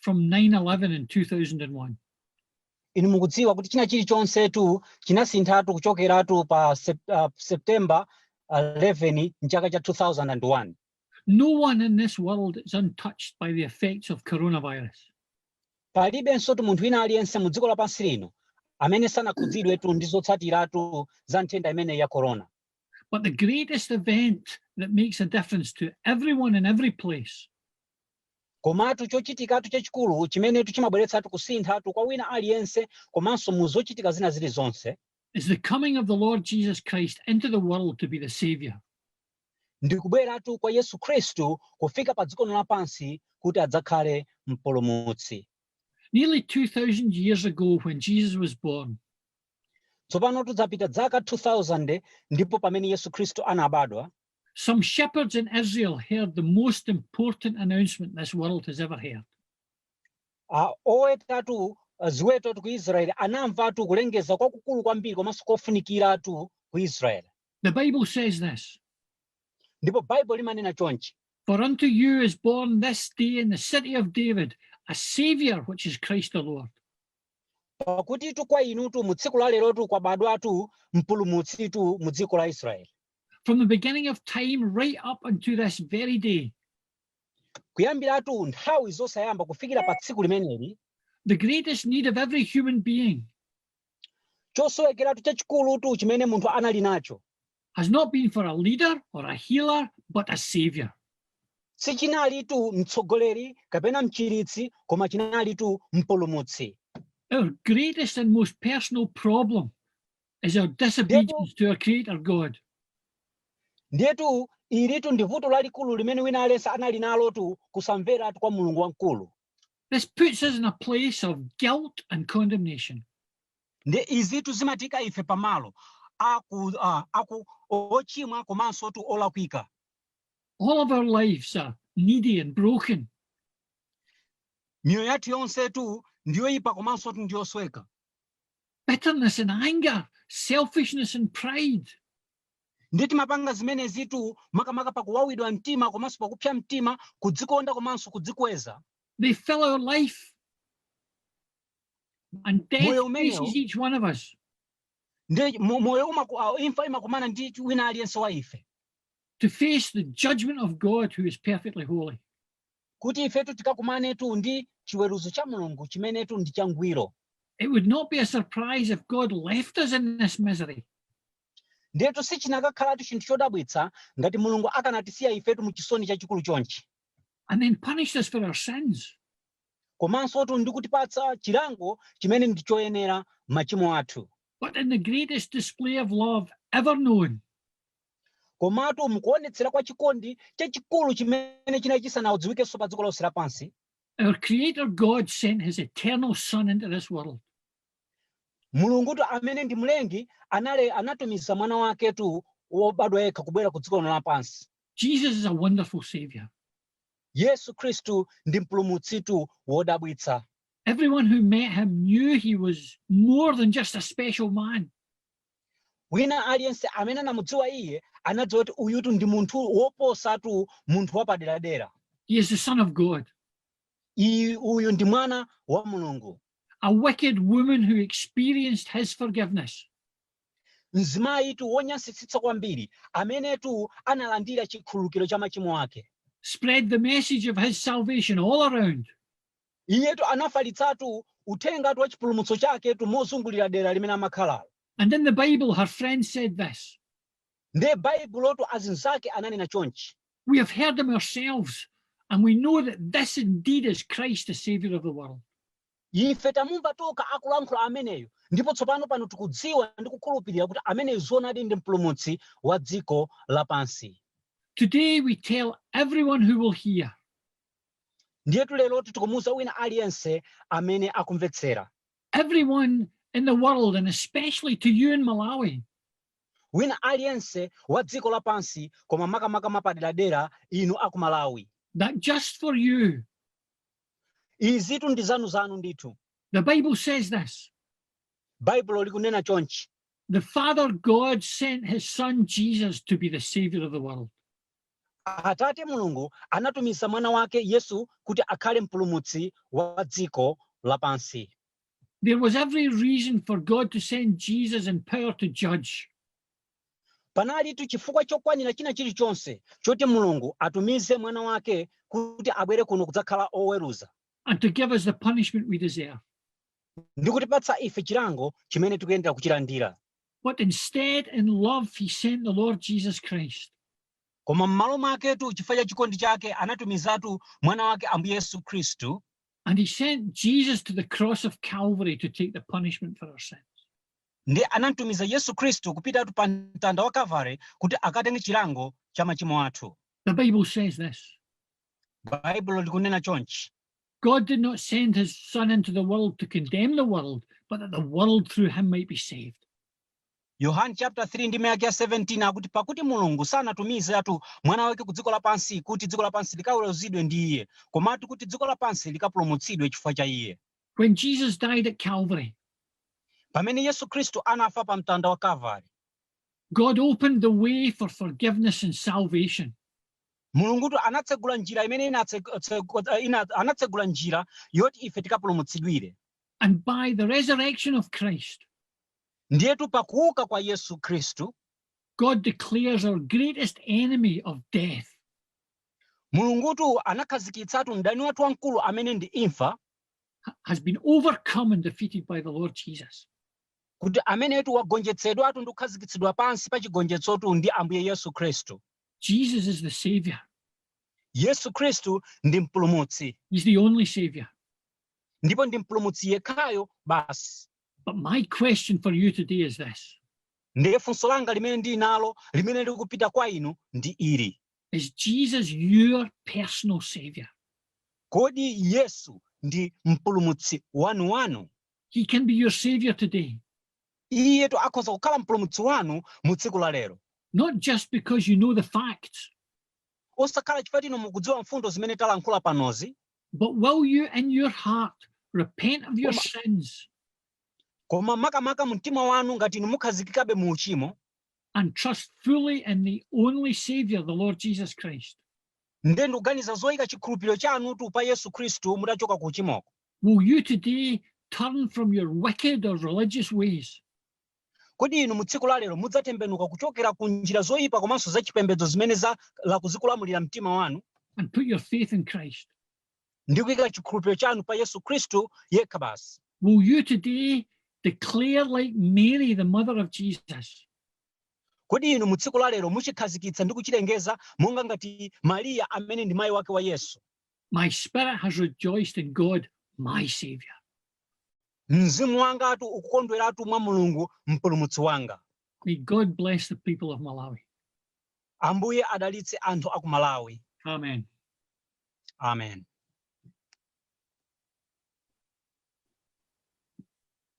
from 9-11 in 2001. inu mukudziwa kuti china chilichonsetu chinasinthatu kuchokeratu pa sep, uh, september 11 mchaka cha 2001 No one in this world is untouched by the effects of coronavirus. palibensotu munthu wina aliyense mu dziko lapansi lino amene sanakhudzidwetu ndi zotsatiratu za nthenda imeneyi ya corona But the greatest event that makes a difference to everyone in every place Komatu chochitikatu chachikulu chimenetu chimabweretsatu kusinthatu kwa wina aliyense komanso mu zochitika zina zilizonse. is the coming of the Lord Jesus Christ into the world to be the Savior. ndi kubweratu kwa Yesu Khristu kufika pa dziko lino lapansi kuti adzakhale mpulumutsi. Nearly 2,000 years ago when Jesus was born, Tsopano patapita zaka 2000 ndipo pamene Yesu Khristu anabadwa, Some shepherds in Israel heard the most important announcement this world has ever heard. Ah, owetatu ah, ziwetotu ku israeli anamvatu kulengeza kwakukulu kwambiri komanso kofunikiratu ku israeli The Bible says this ndipo baibulo limanena chonchi For unto you is born this day in the city of David a Saviour, which is Christ the Lord. pakutitu kwa inutu mu tsiku la lerotu kwabadwatu mpulumutsitu mu dziko la israeli from the beginning of time right up unto this very day. Kuyambiratu nthawi zosayamba kufikira pa tsiku limeneli. The greatest need of every human being. Chosowekeratu chachikulutu chimene munthu anali nacho. Has not been for a leader or a healer but a savior. Sichinalitu mtsogoleri kapena mchiritsi koma chinalitu mpulumutsi. Our greatest and most personal problem. Is our disobedience to our Creator God. Ndiyetu ilitu ndi vuto lalikulu limene wina aliyense anali nalotu kusamveratu kwa Mulungu wamkulu. This puts us in a place of guilt and condemnation. Ndiye izitu zimatiika ife pamalo aku uh, aku ochimwa komansotu olakwika. All of our lives are needy and broken. Miyoyo yathu yonsetu ndiyoipa komansotu ndiyosweka. Bitterness and anger, selfishness and pride. ndiye timapanga zimenezitu makamaka pakuwawidwa mtima komanso pakupsa mtima kudzikonda komanso kudzikweza They fill our life. And death Moyo umenewo. faces each one of us. ndiye mo- moyo umaku- ah, imfa imakumana ndi wina aliyense wa ife to face the judgment of God who is perfectly holy. kuti ifetu tikakumanetu ndi chiweruzo cha Mulungu chimenetu ndi changwiro. It would not be a surprise if God left us in this misery. Ndiyetu sichinakakhalatu chinthu chodabwitsa ngati Mulungu akanatisiya ifetu mu chisoni chachikulu chonchi. And then punished us for our sins. Komansotu ndi kutipatsa chilango chimene ndi choyenera machimo athu. But in the greatest display of love ever known. Komatu mukuonetsera kwa chikondi chachikulu chimene chinali chisanadziwikenso pa dziko lonse lapansi, Our Creator God sent His eternal Son into this world. Mulungutu amene ndi mlengi anali anatumiza mwana waketu wobadwa yekha kubwera ku dziko lino lapansi. Jesus is a wonderful savior. Yesu Khristu ndi mpulumutsitu wodabwitsa. Everyone who met him knew he was more than just a special man. Wina aliyense amene anamudziwa iye anadziwa kuti uyutu ndi munthu woposatu munthu wapaderadera. He is the son of God. Iye uyu ndi mwana wa Mulungu. A wicked woman who experienced his forgiveness. Mzimayitu wonyansitsitsa kwambiri amenetu analandira chikhululukiro cha machimo ake. Spread the message of his salvation all around. Iyetu anafalitsatu uthengatu wa chipulumutso chaketu mozungulira dera limene amakhalalo. And in the Bible her friends said this. Ndiye Baibulotu azinzake ananena chonchi. We have heard him ourselves and we know that this indeed is Christ the savior of the world. Ife tamumva tokha akulankhula ameneyo ndipo tsopano pano tikudziwa ndi kukhulupirira kuti ameneyo zoonadi ndi mpulumutsi wa dziko lapansi. Today we tell everyone who will hear. Ndiyetu lerotu tikumuuza wina aliyense amene akumvetsera. Everyone in the world and especially to you in Malawi. Wina aliyense wa dziko lapansi koma makamaka mwapaderadera inu aku Malawi. That just for you. Izitu ndi zanu zanu ndithu. The Bible says this. Baibulo likunena chonchi. The Father God sent his son Jesus to be the savior of the world. Atate Mulungu anatumiza Mwana wake Yesu kuti akhale Mpulumutsi wa dziko lapansi. There was every reason for God to send Jesus in power to judge. Panalitu chifukwa chokwanira china chilichonse choti Mulungu atumize Mwana wake kuti abwere kuno kudzakhala oweruza. And to give us the punishment we deserve. Ndi kutipatsa ife chilango chimene tikuyenera kuchilandira. But instead, in love, he sent the Lord Jesus Christ. koma m'malo mwaketu chifukwa cha chikondi chake anatumizatu mwana wake ambuye yesu khristu And he sent Jesus to the cross of Calvary to take the punishment for our sins. ndi anamtumiza yesu khristu kupitatu pa mtanda wa kalvare kuti akatenge chilango cha machimo athu The Bible says this Baibulo likunena chonchi God did not send his son into the world to condemn the world, but that the world through him might be saved. Yohane chapter 3 ndime yake ya 17 akuti pakuti Mulungu sanatumizetu mwana wake ku dziko lapansi kuti dziko lapansi likaweruzidwe ndi iye, komatu kuti dziko lapansi likapulumutsidwe chifukwa cha iye. When Jesus died at Calvary, pamene Yesu Kristu anafa pa mtanda wa Kalvari, God opened the way for forgiveness and salvation. Mulungutu anatsegula njira imene anatsegula njira yoti ife tikapulumutsidwire. And by the resurrection of Christ, Ndiyetu pakuuka kwa Yesu Khristu, God declares our greatest enemy of death Mulungutu anakhazikitsatu mdani wathu wamkulu amene ndi imfa has been overcome and defeated by the Lord Jesus. kuti amenetu wagonjetsedwatu ndi kukhazikitsidwa pansi pa chigonjetsotu ndi Ambuye Yesu Khristu. Jesus is the savior. Yesu Khristu ndi mpulumutsi. He's the only savior. Ndipo ndi mpulumutsi yekhayo basi. But my question for you today is this. Ndiye funso langa limene ndili nalo limene likupita kwa inu ndi ili. Is Jesus your personal savior? Kodi Yesu ndi mpulumutsi wanu wanu? He can be your savior today. Iyetu akhoza kukhala mpulumutsi wanu mu tsiku la lero. Not just because you know the facts. Osakhala chifukwa choti inu mukudziwa mfundo zimene talankhula panozi. But will you in your heart repent of your sins? Koma makamaka mumtima wanu ngati inu mukhazikikabe mu uchimo. And trust fully in the only savior the Lord Jesus Christ. Ndiye ndikuganiza zoyika chikhulupiriro chanutu pa Yesu Khristu mutachoka ku uchimoko. Will you today turn from your wicked or religious ways? Kodi inu mu tsiku la lero mudzatembenuka kuchokera ku njira zoyipa komanso zachipembedzo zimene zakhala zikulamulira mtima wanu and put your faith in Christ? ndi kuyika chikhulupiriro chanu pa Yesu Khristu yekha basi? Will you today declare like Mary, the mother of Jesus? Kodi inu mu tsiku la lero muchikhazikitsa ndi kuchilengeza monga ngati Mariya amene ndi mayi wake wa Yesu? My spirit has rejoiced in God, my Savior. Mzimu wangatu ukukondweratu mwa Mulungu mpulumutsi wanga. May God bless the people of Malawi. Ambuye adalitse anthu aku Malawi. Amen. Amen.